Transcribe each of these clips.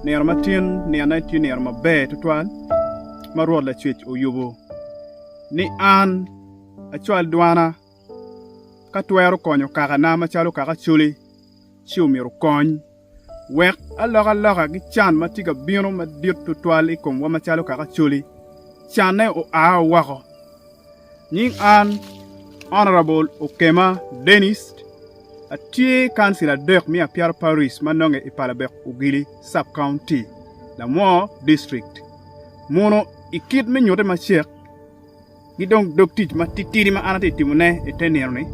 Nino ma tin nino-ni tye nino maber tutwal ma Rwot Lacwec oyubo ni an acwal dwana ka twero konyo kakana macalo kaka Acoli ci omyero okony. wek alokaloka ki can ma tye ka bino madit tutwal i komwa macalo kaka coli, canne oa woko. Nying an Honourable Okema Denis, atye kancila adek me Apiara Parish ma nonge i Palabek Ogili Sub County, Lamwo District. Muno i kit me nyutte macek, Ki dong dog tic matitidi ma an atye ka timone i te nino-ni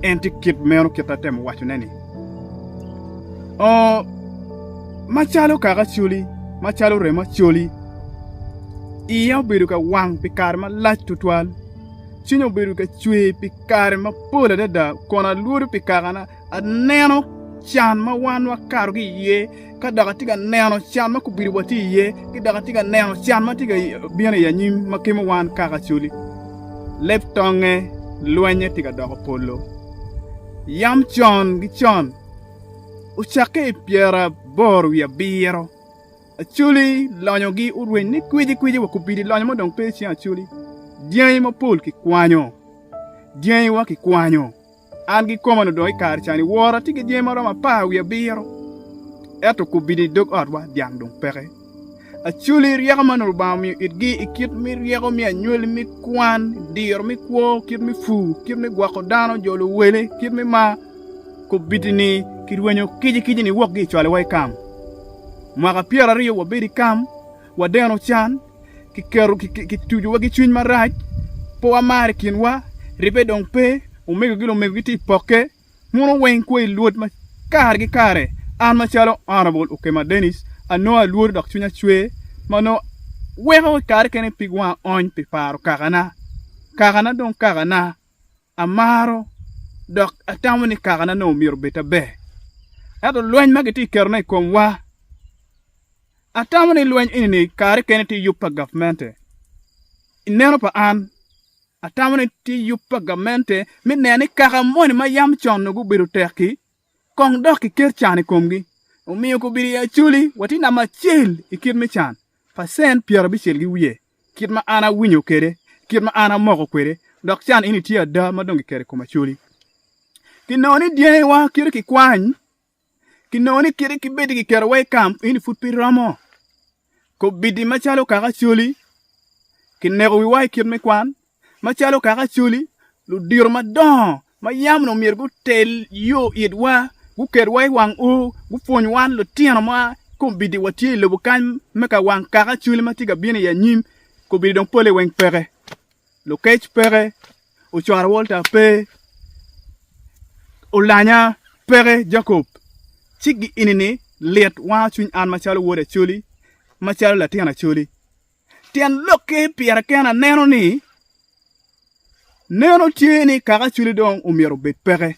en tye kit meno kit ma atemo wacone-ni. Oo, macalo kaka acoli, macalo remo acoli, iya obedo ka wang pi kare malac tutwal, cwinya obedo ka cwer pi kare mapol adada kun alwodo pi kakana. aneno can ma wan wakato ki iye, ka dok atye ka neno can ma kubido watye iye, ki dok atye ka neno can ma tye ka bino i anyim ma kemo wan kaka acoli. Leb tongnge lwennye tye ka doko polo. Yam con ki con, ocakke i pyera aboro wiye abiro, acoli lonyogi orweny ni kwicikwici wa kubidi lonyo ma dong pe i cing acoli. Dyangi mapol kikwanyo, dyangiwa kikwanyo. An kikoma onongo dong i kare ca-ni wora tye ki dyangi ma romo apar wiye abiro, ento kubino i dog otwa dyang dong peke. Acoli ryeko ma onongo Lubanga omiyo itgi i kit me ryeko me anywali, me kwan, diro me kwo, kit me pur, kit me gwoko dano, jolo wele, kit me mar, kubiti-ni kirwenyo kicikicini wokgi i cwalowa i kam. Mwaka pyeraryo wabedo i kam. wadeno can, kitucowa ki cwiny marac, pe wamar i kinwa, ribbe dong pe, omego ki lumego gitye i pokke, muno weng kwo i Lwod ma kare ki kare. An macalo Honourable Okema Denis, anongo alworo dok cwinya cwer ma nongo weko i kare kene pig wanga ony pi paro kakana. Kakana dong kakana. Amaro dok atamo ni kakane onongo myero obed ta ber. Ento lweny ma gitye ka ketone i komwa, atamo ni lweny eni kare kene tye yub pa gavmente. I neno pa an, atamo ni tye yub pa gavmente me neno ni kaka moni ma yam con onongo gubedo tek-ki, kong dok kiket can i komgi. Omiyo kobedo i Acholi watye namba acel i kit me can, pacent pyerabicel ki wiye. Kit ma an awinyo kwede, kit ma an amoko kwede, dok can eni tye ada ma dong kiketo i kom Acholi. Kinongo ni dyangiwa kite kikwany, kinongo ni kite kibedi kiketowa i kam eni pud pe romo. Kobidi macalo kaka Acholi, kineko wiwa i kit me kwan, macalo kaka Acholi, ludito madongo ma yam onongo myero gutel yo itwa, guketwa i wang ur, gupwony wan litino ma kombeddi watye i lobo kany me ka wang kaka Acholi ma tye ka bino i anyim. Kombeddi dong pole weng peke, lukec peke, ocoro Walter pe, olanya peke, Jacob. Ci gi eni-ni lit wango cwiny an macalo wod Acholi, macalo latin Acholi. Tyen lokki pire kene aneno ni neno tye ni kaka cwili dong omyero obed peke.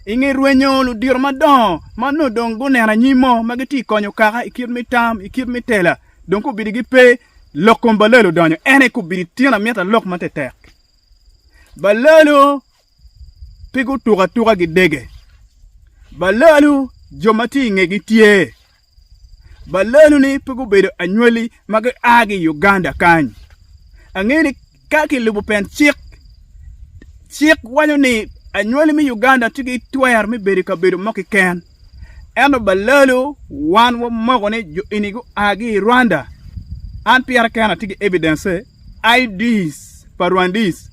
I nge rwenyo ludito madongo ma nongo dong guneno anyim mo ma gitye ka konyo kaka i kit me tam, i kit me tela dong kubidi gipe lok kom balelo odonyo en aye kubidi tyen amyero alok matek. Balelo pe gutuko atuka gidege, balelo jo ma tye i ngegi tye. Baleno-ni pe gubedo anywali ma gia ki i Uganda kany. Angeyo ni ka kilubo pien cik, cik waco ni anywali me Uganda tye ki twero me bedo i kabedo mo keken. Ento balelo wan wamoko ni jo eni gua ki i Rwanda. An pira kena atye ki evidence-ce, IDs pa Rwandis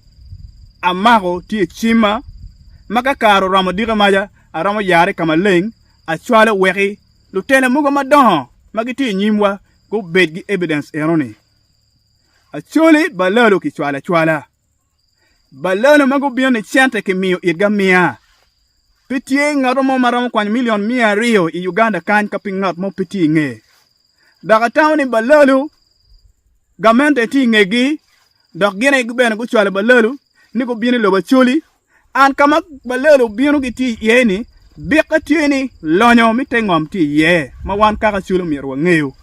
amako tye i cimma ma ka kare oromo dika maca aromo yarre ka maleng Acwalo weki lutela mogo madongo ma gitye i nyimwa gubed ki evidence enoni. Acholi balalo kicwalo acwala. Balalo ma gubino ni cente kimiyo itgi amiya. Pe tye ngat mo ma romo kwanyo milion miya aryo i Uganda kany ka piny ngat mo pe tye i nge. Dok atamo ni balalo gamente tye i ngegi dok gin aye bene gucwalo balalo ni gubino i lobo Acholi. An ka ma balelo obino gitye iye-ni, bikke tye ni lonyo me te ngom tye iye ma wan kaka cwelo myero wangeyo.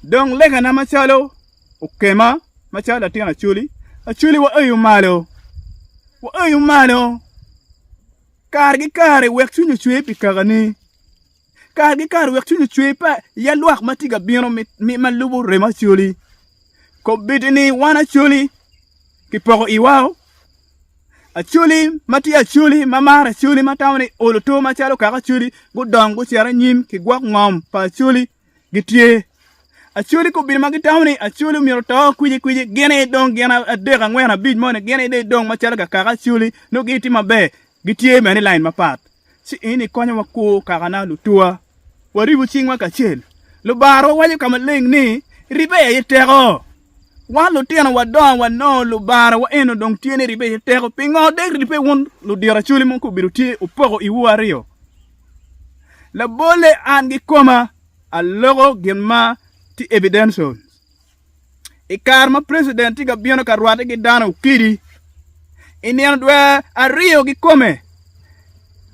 Dong legana macalo okema macalo latin acwali, acwali waeyo malo, waeyo malo kare ki kare wek cwiny ocwer pi kakani. Kargi kare wek cwiny ocwer pe ya lwak ma tye ka bino ma lubo remo Acholi. Kobeddi ni wan Acholi kipoko iwao, Acholi ma tye Acholi ma maro Acholi ma tamo ni olo to macalo kaka Acholi gudong gucito anyim ki gwok ngom pa Acholi gitye. Acholi kobeddi ma gitamo ni Acholi myero oto kwiji kwiji gin aye dong gin adek angwen abic moni gin aye dong macalo kaka Acholi nongo gitye maber gitye bene ni lain mapat. ci in ikonyo wakur kakana lutuwa, waribu cingwa kacel. Lubarwa waco ka maleng ni, Ribbe aye teko! Wan lutino wadongo wanongo Lubara wa eno dong tye ni ribbe aye teko. Pingo dek ribbe wun ludiracwale mogo obedo tye opoko iwu aryo? Labolle an kikoma aloko gin ma tye evidential. i kare ma president tye ka bino ka rwate ki dano okidi i nino dwer aryo kikome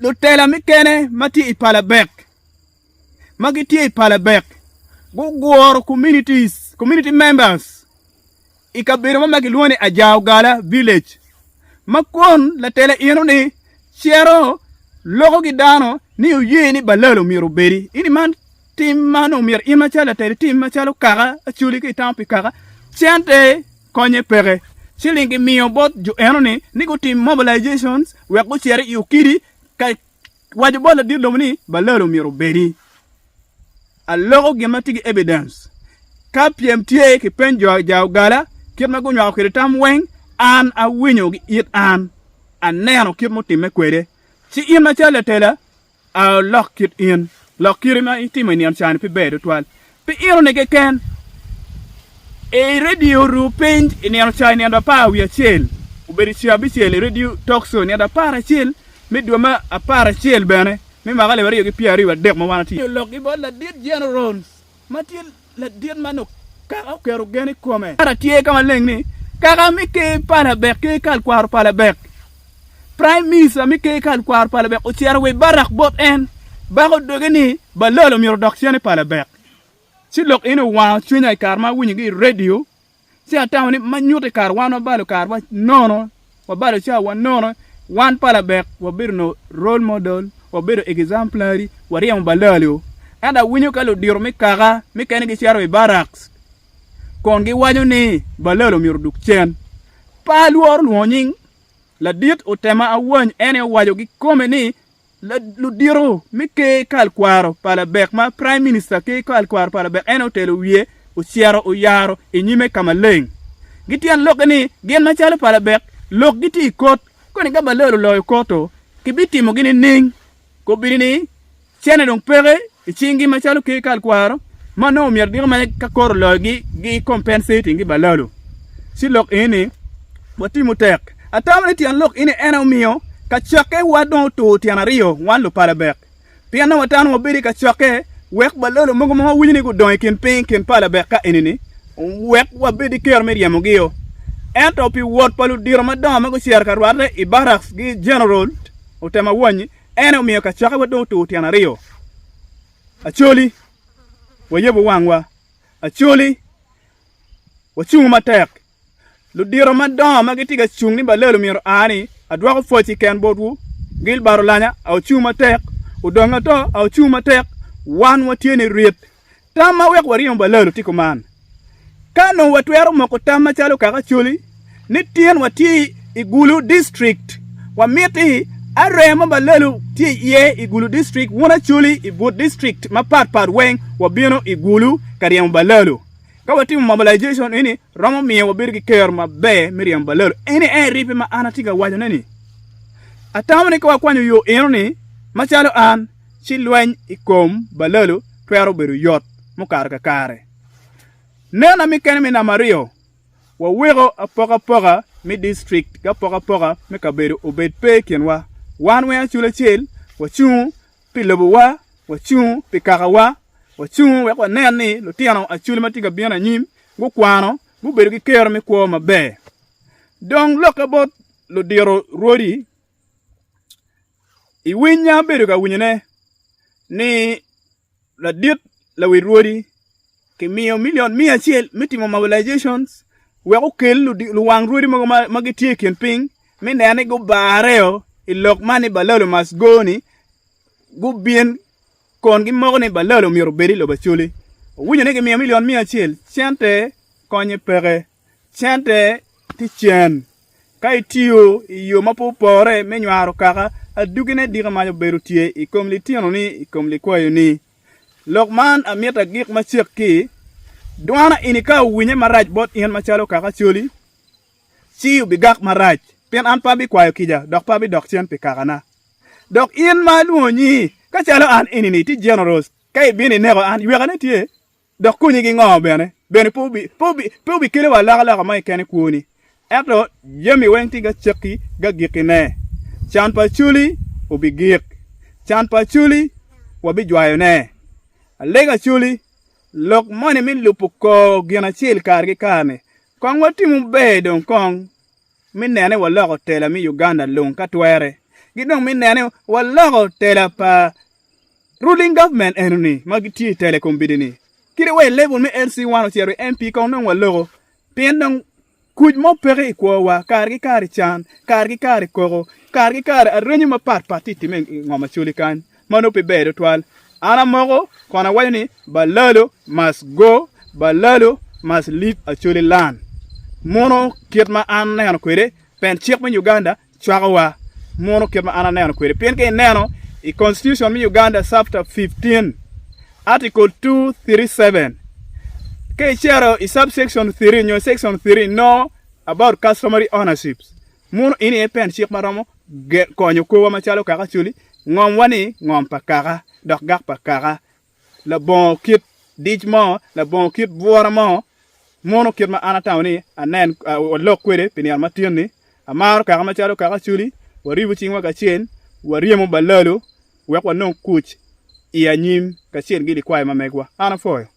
lutela mukene ma tye i palabek ma gitye i palabek guguro communities community members i kabedo mo ma kilwongo ni ajaogala village ma kun latela eno ni cito loko ki dano ni oye ni balalo myero obedi ini man Tim man omyero in macalo latel itim macalo kaka acoli ka itamo pi kaka. Cente konye peke. Ciling gimiyo bot jo enoni ni gutim mobilizations wek gucit i okidi ka waco bot ladit lobo ni balal omyero obedi. Aloko gin ma tye ki evidence. Ka pyem tye kipeny jo ja ogala kit ma gunywako kwede tam weng an awinyo gi it an aneno kit mutimme kwede. Ci in macalo latela Lok kit in. Lok kite ma itimo i nino cani pe ber tutwal. Pi eno-ni keken, i redio ru piny i nino ca i nino apar wiye acel, obedo i ca abicel i redio Talk Show, nino apar acel me dwe me apar acel bene me mwaka alip aryo ki pyeraryo wadek ma wan watye. Lok-gi bot Ladit General Rounds. ma tye ladit ma nongo kaka oketo gen i kome. Kara tye ka maleng ni, kaka me ker pa Labek ki kal kwaro pa Labek, Praim Minista me ker kal kwaro pa Labek ocito wa i Barak bot en, bako doge ni, Balol omyero odok cene pa Labek. Ci lok eni owango cwinya i kare ma awinyogi i redio Ci atamo ni ma nyuto i kare wan wabalo karewa nono, wabalo cawawa nono, wan pa labek wabedo onongo role model, wabedo exemplary, waryemo balali o. Ento awinyo ka ludito me kaka mukene gicito i barracks kun giwaco ni balali omyero odug cen. Pe alworo lwongo nying, ladit otema awany en aye owaco kikome ni Ludito me ker kal kwaro pa labek ma Prime Minister ker kal kwaro pa labek en aye otelo wiye ocito oyaro i nyime ka maleng. Gityen lokke ni gin macalo pa labek lok gitye i kot koni ka Balor oloyo kot-to kibitimogi nining? Kobini ni cene dong peke I cingi macalo ker kalkwaro ma nongo myero giko mere ka koro loyogi gi compensating ki balalo ci lok eni ni watimo tek. Atamo ni tyen lok eni en aye omiyo kacokke wa dong otur tyen aryo wan lupalabek pien nongo watamo ni wabedo i kacokke wek balalo mogo ma wawinyo ni gudongo i kin piny i kin palabek ka eni ni wek wabed ki kero me ryemogio. Ento pi wot pa ludito madongo ma gucito ka rwatte i barracks gi General otemo awonyi En omiyo kacokkewa dong otur tyen aryo, Acholi, wayebu wangwa. Acholi, wacungu matek. Ludito madongo ma gitye ka cung ni balelo myero aa ni, Adwoko pwoc i ken botwu, Gilbert Olanya, a ocung matek, Odonga To, a ocung matek, Wan watye ni rit. Tam ma weko waryemo balalo tye kuman, Ka nongo watwero moko tam macalo kaka Acholi ni tyenwa tye i Gulu district, wamiti aree ma balalo tye iye i Gulu district wun Acholi i but district mapat pat weng wabino i Gulu ka ryemo balalo. Ka watimo mobilization eni romo miyo wabedo ki kero maber me ryemo balalo. Eni aye ribbe ma an atye ka wacone ni, atamo ni ka wakwanyo yo enoni macalo an, ci lweny i kom balalo twero bedo yot mukato kakare. Nena me kene me namba aryo, Waweko apokapoka me distrikt ki apokapoka me kabedo obed pe i kinwa. Wan weng acul acel wacungo pi lobowa, wacungo pi kakawa, wacungo wek wanen ni lutino acul ma tye ka bino anyim gukwano, gubedo ki kero me kwo maber. Dong lokke bot ludiro rwodi. I winya abedo ka winyone ni ladit lawi rwodi kimiyo milion miya acel me timo mobilization wek okel luwang rwodi mogo ma gitye i kin piny me neno ni gubarreo i lok man ni balalo must go ni gubin kun gimoko ni balalo myero obed i lobo Acholi. Owinyo ni kimiyo milion miya acel cente konye peke. cente tye cen. Ka itiyo i yo ma pe opore me nywaro kaka, aduggine diki mac obedo tye i kom litinoni i kom likwayoni. Lok man amito agik macek ki, Dwana eni ka owinye marac bot in macalo kaka coli, ci obigak marac, pien an pe abikwayo kica dok pe abidok cen pi kakana. Dok in ma alwongo nyingi, ka calo an eni-ni tye Generous, ka ibino ineko an, ywekane tye? Dok konyi ki ngo bene? Bene pe obikelewa alokaloka ma ikene kwoni. Ento jami weng tye gacakki gagikine. Can pa Acoli obigik. Can pa Acoli wabijwayone. Alega Acoli, lok moni me lubo kor gin acel kare ki kare-ni, kong watimo ber dong kong me nene waloko tela me Uganda lung ka twere, ki dong me nene waloko tela pa Ruling government enoni ma gitye i tele kom bidi ni kite wa i level me LC one ocito i MP kong dong wa loko pien dong kuc mo peke i kwo wa kare ki kare can kare ki kare koko kare ki kare arenyo ma pat pat tye time i ngom Acholi kany ma nongo pe ber tutwal an amoko kun awaco ni Balalo must go Balalo must leave Acholi land muno kit ma an aneno kwede pien cik me Uganda cwakowa mono kit ma an aneno kwede pien ka ineno i Constitution me Uganda chapter 15 article 237 ka icito i subsection 3 nyo section 3 nongo about customary ownership mono eni aye pen cik ma romo konyo kwowa macalo kaka coli ngom wa ni ngom pa kaka dok gak pa kaka labongo kit dic mo, labongo kit bwura mo, mono kit ma an atamo ni anen walok kwede pi nino ma tin-ni. Amaro kaka macalo kaka Acoli, waribu cingwa kacel, waryemo balalo wek wanong kuc i anyim kacel ki likwayo ma megwa. An apwoyo.